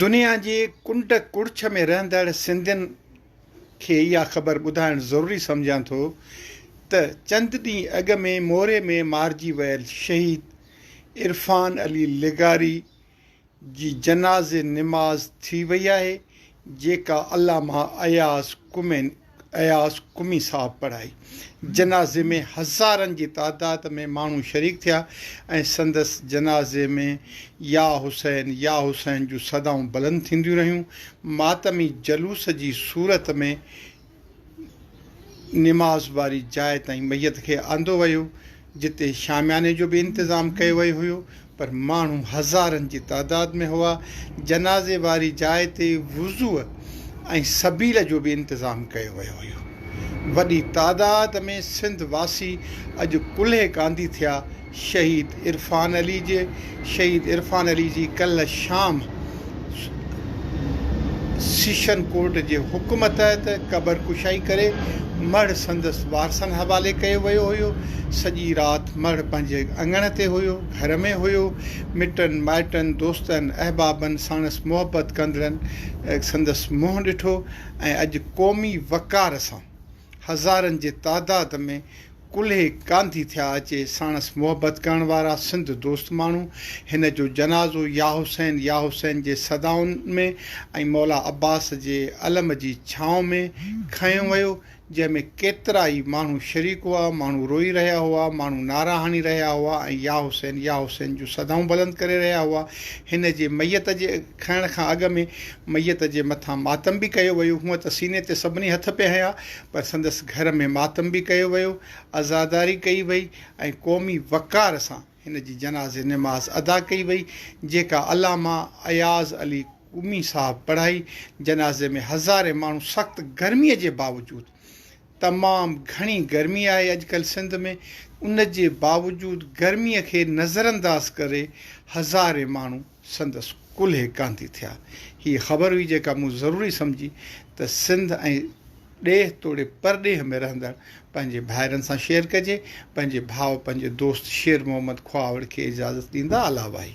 دنيا جي ڪنڊ ڪڙڇ ۾ رهندڙ سنڌين کي اها خبر ٻڌائڻ ضروري سمجهان ٿو ته چند ڏينهن اڳ ۾ موري ۾ مارجي ويل شهيد عرفان علي لغاري جي جنازي نماز ٿي وئي آهي جيڪا علامه اياز ڪمين اياز قمي صاحب پڙهائي. جنازي ۾ هزارن جي تعداد ۾ ماڻهو شريڪ ٿيا ۽ سندس جنازي ۾ يا حسين يا حسين جون صدائون بلند ٿينديون رهيون. ماتمي جلوس جي صورت ۾ نماز واري جاء تائين ميت کي آندو ويو. جتي شامياني جو به انتظام ڪيو ويو هيو پر ماڻهو هزارن جي تعداد ۾ هئا، جنازي واري جاء تي وضوء ۽ سبيل جو به انتظام ڪيو ويو هيو، وڏي تعداد ۾ سنڌ واسي اڄ ڪلهي ڪانڌي ٿيا شهيد عرفان علي جي شهيد عرفان علي جي ڪلهه شام سيشن ڪورٽ جي حڪم تحت قبر ڪشائي ڪري مڙهه سندس وارثن حوالي ڪيو ويو هيو. سڄي رات مڙهه پنهنجي اڱڻ تي هيو، گهر ۾ هيو. مٽن مائٽن، دوستن، احبابن ساڻس محبت ڪندڙن سندس منهن ڏٺو ۽ اڄ قومي وقار سان. هزارن جي تعداد ۾ ڪلهي گانڌي ٿيا اچي ساڻس محبت ڪرڻ وارا سنڌ دوست ماڻهو هن جو جنازو يا حسين يا حسين جي صدائن ۾ ۽ مولا عباس جي علم جي ڇانو ۾ کنيو ويو جنهن ۾ ڪيترا ئي ماڻهو شريڪ هئا ماڻهو روئي رهيا هئا ماڻهو نعرا هڻي رهيا هئا ۽ يا حسين يا حسين جون صدائون بلند ڪري رهيا هئا هن جي ميت جي کائڻ کان اڳ ۾ ميت جي مٿان ماتم به ڪيو ويو. هونء ته سيني تي سڀني هٿ پئي هنيا، پر سندس گهر ۾ ماتم به ڪيو ويو، عزاداري ڪئي وئي ۽ قومي وقار سان هن جي جنازي نماز ادا ڪئي وئي، جيڪا علامه اياز علي قمي صاحب پڙهائي. جنازي ۾ هزارين ماڻهو سخت گرميء جي باوجود، تمام گهڻي گرمي آهي اڄڪلهه سنڌ ۾، ان جي باوجود گرميء کي نظرانداز ڪري هزارين ماڻهو، سندس ڪلهي ڪانڌي ٿيا. هيء خبر هئي جيڪا مون ضروري سمجهي ته سنڌ ۽ ڏيهه توڙي پرڏيهه ۾ رهندڙ پنهنجي ڀائرن سان شيئر ڪجي. پنهنجي ڀاء پنهنجي دوست شير محمد کهاوڙ کي اجازت ڏيندا الاء واهي.